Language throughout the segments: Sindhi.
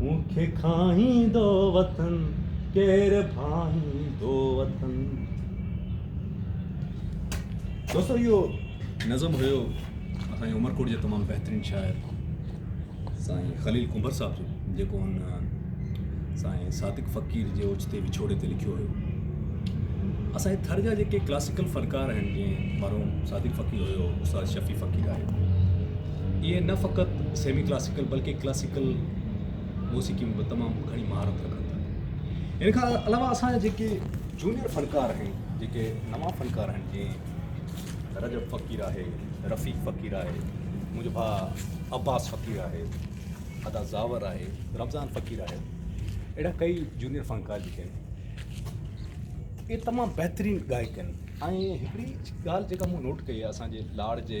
مون کي کائيندو وٿن ڪير ڀائيندو وٿن. دوستو اهو نظم هيو اسان جي عمرڪوٽ جي تمام بهترين شاعر سائين خليل ڪنڀر صاحب جو جيڪو هن سائين صادق فقير جي اوچتي وڇوڙي تي لکيو هيو اسان جي ٿر جا جيڪي ڪلاسيڪل فنڪار آهن جيئن مرحوم صادق فقير هيو استاد شفيع فقير آهي اهي نه فقط سيمي ڪلاسيڪل بلڪه ڪلاسيڪل موسيقي ۾ به تمام گهڻي مهارت رکن ٿا ان کان علاوه اسان جا جيڪي جونيئر فنڪار آهن جيڪي نوان فنڪار آهن جيئن رجب فقير آهي رفيق فقير آهي منهنجو ڀاء عباس فقير آهي ادا زاور آهي رمضان فقير آهي اهڙا ڪئي جونيئر فنڪار جيڪي آهن اهي تمام بهترين گائڪ آهن ۽ هڪڙي ڳالهه جيڪا مون نوٽ ڪئي آهي اسان جي لاڙ جي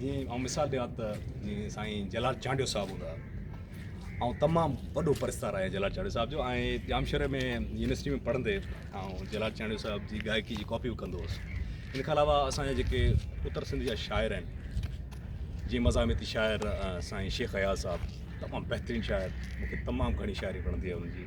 جي آئون مثال ڏيان ته جيئن سائين جلال چانڊيو صاحب هوندا هئا آئون تمام وڏو پرستار آهيان جلال چانڊيو صاحب جو آئين ڄام شهر ۾ يونيورسٽي ۾ پڙهندي آئون جلال چانڊيو صاحب جي گائڪي جي ڪاپي به ڪندو هوس ان کان علاوه اسان جا جيڪي اتر سنڌ جا شاعر آهن جي مزاحمتي شاعر سائين شيخ اياز صاحب تمام بهترين شاعر مونکي تمام گهڻي شاعري وڻندي آهي انهن جي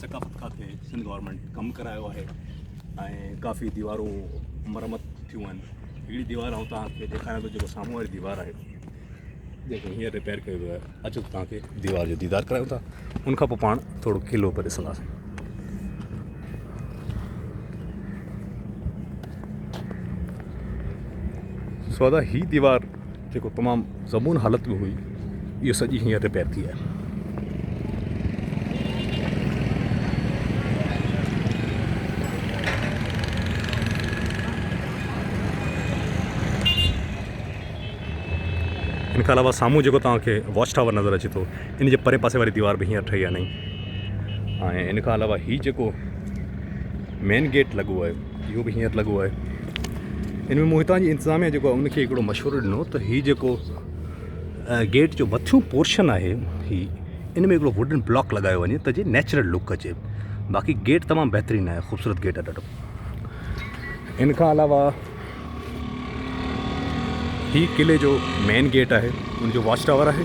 ثقافت کاتي سنڌ گورنمينٽ ڪم ڪرايو آهي ۽ ڪافي ديوارون مرمت ٿيون آهن هڪڙي ديوار آئون توهان کي ڏيکاريان ٿو جيڪو سامهون واري ديوار آهي جيڪو هينئر ريپيئر ڪيو ويو آهي اچو توهان کي ديوار جو ديدار ڪرايون ٿا ان کان پوء پاڻ ٿورو قلعو به ڏسنداسين سودا هي ديوار جيڪو تمام زبون حالت ۾ هئي اهو سڄي هينئر ريپيئر ٿي آهي. ان کان علاوه سامهون جيڪو توهان کي واچ ٽاور نظر اچي ٿو ان جي پري پاسي واري ديوار به هينئر ٺهي آهي نئين ۽ ان کان علاوه هي جيڪو مين گيٽ لڳو آهي اهو به هيئن لڳو آهي ان ۾ مون هتان جي انتظاميا جيڪو ان کي هڪڙو مشورو ڏنو ته هي جيڪو گيٽ جو مٿيون پورشن آهي هي ان ۾ هڪڙو ووڊن بلاڪ لڳايو وڃي ته جي نيچرل لڪ اچي باقي گيٽ تمام بهترين آهي خوبصورت گيٽ آهي ڏاڍو ان کان علاوه هي قلعي جو مين گيٽ آهي ان جو واچ ٽاور آهي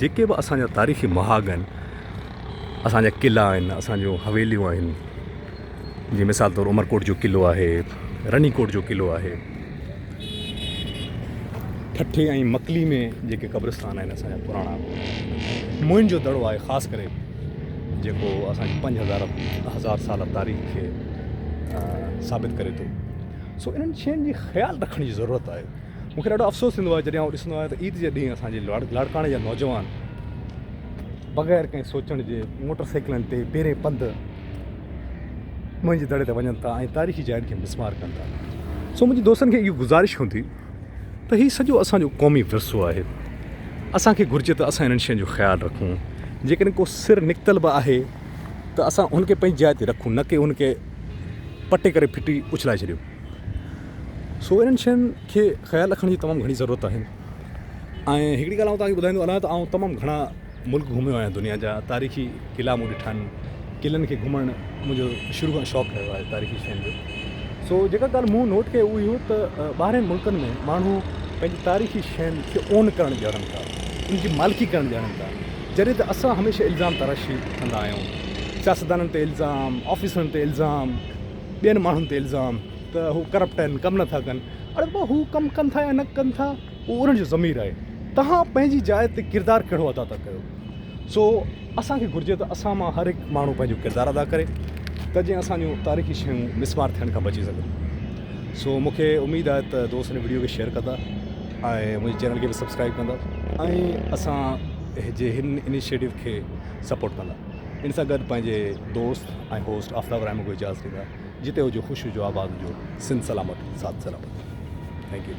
جيڪي به اسان جا تاريخي مهاڳ آهن، اسان جا قلعا آهن، اسان جون حويليون آهن، جيئن مثال طور عمرڪوٽ جو قلعو آهي، رني ڪوٽ جو قلعو آهي، ٺٽي ۽ مڪلي ۾ جيڪي قبرستان آهن اسان جا پراڻا، موئن جو دڙو آهي خاص ڪري جيڪو اسان جي پنج هزار هزار سالا تاريخ کي ثابت ڪري ٿو سو انهن شين جي خيال رکڻ جي ضرورت آهي. مون کي ڏاڍو افسوس ٿيندو آهي جڏهن آئون ڏسندو آهيان ته عيد جي ڏينهن اسان جي لاڙڪاڻي جا نوجوان بغير ڪنهن سوچڻ جي موٽر سائيڪلن تي پيرين پنڌ منهنجي دڙي تي وڃن ٿا ۽ تاريخي جاين کي مسمار ڪن ٿا سو منهنجي دوستن کي اهو گذارش هوندي ته هي سڄو اسان جو قومي ورثو آهي اسان کي گهرجي ته اسان انهن شين جو خيال رکون جيڪڏهن ڪو سر نڪتل به آهي ته اسان هن کي پنهنجي جاء تي رکون نه ڪي هن کي پٽي ڪري ڦٽي اڇلائي ڇڏيون سو انهن شين کي خيال رکڻ جي تمام گهڻي ضرورت آهي ۽ هڪڙي ڳالهه آئون توهان کي ٻڌائيندو هلان ته آئون تمام گهڻا ملڪ گهميو آهيان دنيا جا تاريخي قلعا مون ڏٺا آهن قلعن کي گهمڻ منهنجو شروع کان شوق رهيو آهي تاريخي شين جو سو جيڪا ڳالهه مون نوٽ ڪئي اهو هيو ته ٻاهرين ملڪن ۾ ماڻهو پنهنجي تاريخي شين کي اون ڪرڻ ڄاڻن ٿا ان جي مالڪي ڪرڻ ڄاڻن ٿا جڏهن ته اسان هميشه الزام تراشي ڪندا آهيون سياستدانن تي الزام آفيسرن تي الزام ٻين ماڻهن تي الزام ته هو ڪرپٽ آهن ڪم نٿا ڪن اڙي بابا هو ڪم ڪن ٿا يا نه ڪن ٿا اهو انهن جو ضمير آهي توهان پنهنجي جاء تي ڪردار ڪهڙو ادا ٿا ڪيو سو اسانکي گهرجي ته اسان مان هر هڪ ماڻهو پنهنجو ڪردار ادا ڪري ته جيئن اسان جون تاريخي شيون مسمار ٿيڻ کان بچي سگهن سو مونکي اميد آهي ته دوست هن وڊيو کي شيئر ڪندا ۽ منهنجي چينل کي به سبسڪرائب ڪندا ۽ اسان جي هن انيشيٽو کي سپورٽ ڪندا ان سان گڏ پنهنجي دوست ۽ هوسٽ آفتاب رحمو کي اجازت ڏيندا جتي هجو خوش هجو آباد هجو سنڌ سلامت ساٿ سلامت ٿينڪ يو.